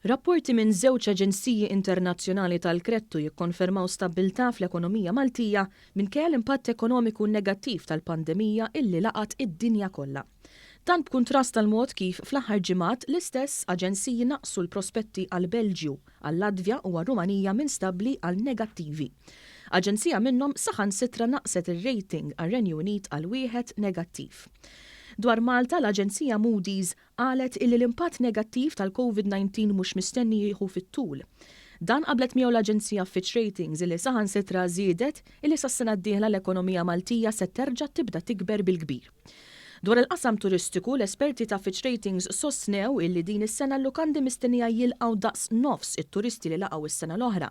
Rapporti minn żewġ aġenziji internazzjonali tal-kredtu jikkonfermaw stabbiltà fl-ekonomija Maltija minkejja l-impatt ekonomiku negattiv tal-pandemija illi laqat id-dinja kollha. Dan b'kuntrast għall-mod kif fl-aħħar ġimgħat l-istess aġenziji naqqsu l-prospetti għall-Belġju, għal-Latvja u għar-Rumanija minn stabbli għal negattivi. Aġenzija minnhom saħansitra naqqset ir-rating għar-Renju Unit għal wieħed negattiv. Dwar Malta, l-aġenzija Moody's qalet illi l-impatt negattiv tal-Covid 19 mhux mistenni jieħu fit-tul. Dan qablet miegħu l-aġenzija Fitch Ratings illi saħansitra żiedet illi sas-sena d-dieħla l-ekonomija Maltija se terġa' tibda tikber bil-kbir. Dwar il-qasam turistiku, l-esperti ta' Fitch Ratings sostnew illi din is-sena l-lukandi mistennija jilqgħu daqs nofs it-turisti li laqgħu s-sena l-oħra,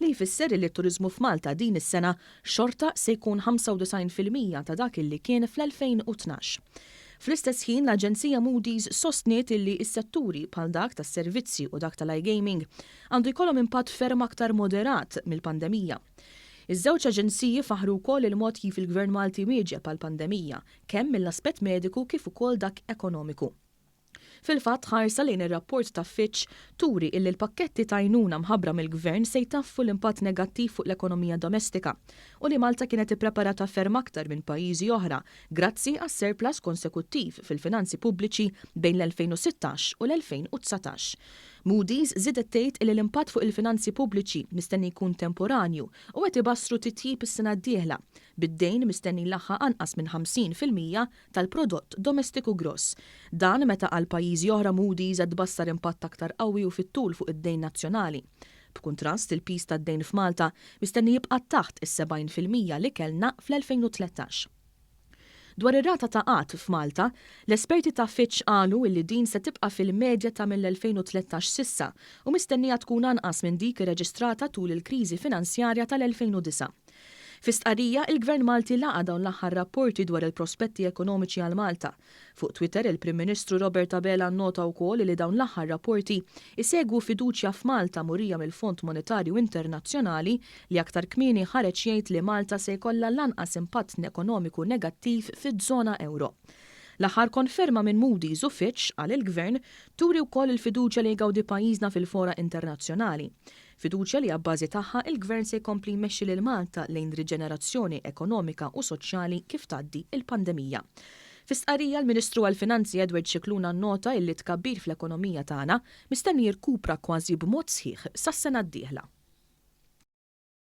li jfisser illi t-turiżmu f'Malta din is-sena xorta se jkun 95 fil-mija ta' dak illi kien fl-2012. Fl-istess ħin, l-aġenzija Moody's sostniet illi s-setturi bħal dak tas-servizzi u dak tal-iGaming għandu jkollhom impatt ferm aktar moderat mill-pandemija. Iż-żewġ aġenziji faħħru wkoll il-mod kif il-Gvern Malti wieġeb għall-pandemija, kemm mill-aspett mediku kif ukoll dak ekonomiku. Fil-fatt, ħarsa lejn ir-rapport ta' Fitch turi illi l-pakketti t'għajnuna mħabbra mill-Gvern se jtaffu l-impatt negattiv fuq l-ekonomija domestika u li Malta kienet ippreparata ferm aktar minn pajjiżi oħra grazzi għas-surplus konsekuttiv fil-finanzi pubbliċi bejn l-2016 u l-2019 Moody's żiedet tgħid illi l-impatt fuq il-finanzi pubbliċi mistenni jkun temporanju u qed ibassru titjib is-sena d-dieħla, bid-dejn mistenni jlaħħaq anqas minn 50 fil-mija tal-Prodott Domestiku Gross. Dan meta għal pajjiżi oħra Moody's qed tbassar impatt aktar qawwi u fit-tul fuq id-dejn nazzjonali. B'kuntrast, il-piż tad-dejn f'Malta mistenni jibqa' taħt is-70 fil-mija li kellna fl-2013. Dwar ir-rata ta' qgħad f'Malta, l-esperti ta' Fitch qalu illi din se tibqa' fil-medja ta' mill-2013 s'issa u mistennija tkun anqas minn dik irreġistrata tul il-kriżi finanzjarja tal-2009. Fi stqarrija, il-Gvern Malti laqa' dawn l-aħħar rapporti dwar il-prospetti ekonomiċi għal Malta, Fuq Twitter, il-Prim Ministru Robert Abela nnota wkoll li dawn l-aħħar rapporti jsegwu fiduċja f'Malta murija mill-Fond Monetarju Internazzjonali li aktar kmieni ħareġ jgħid li Malta se jkollha l-anqas impatt nekonomiku negattiv fiż-żona ewro. L-aħħar konferma minn Moody's u Fitch, qal il-Gvern, turi wkoll il-fiduċja li jgawdi pajjiżna fil-fora internazzjonali. Fiduċja li abbażi tagħha l-Gvern se jkompli jmexxi lil Malta lejn riġenerazzjoni ekonomika u soċjali kif tgħaddi l-pandemija. Fi stqarrija l-Ministru għall-Finanzi Edward Scicluna nnota illi t-tkabbir fl-ekonomija tagħna mistenni jirkupra kważi b'mod sħiħ sas-sena d-dieħla.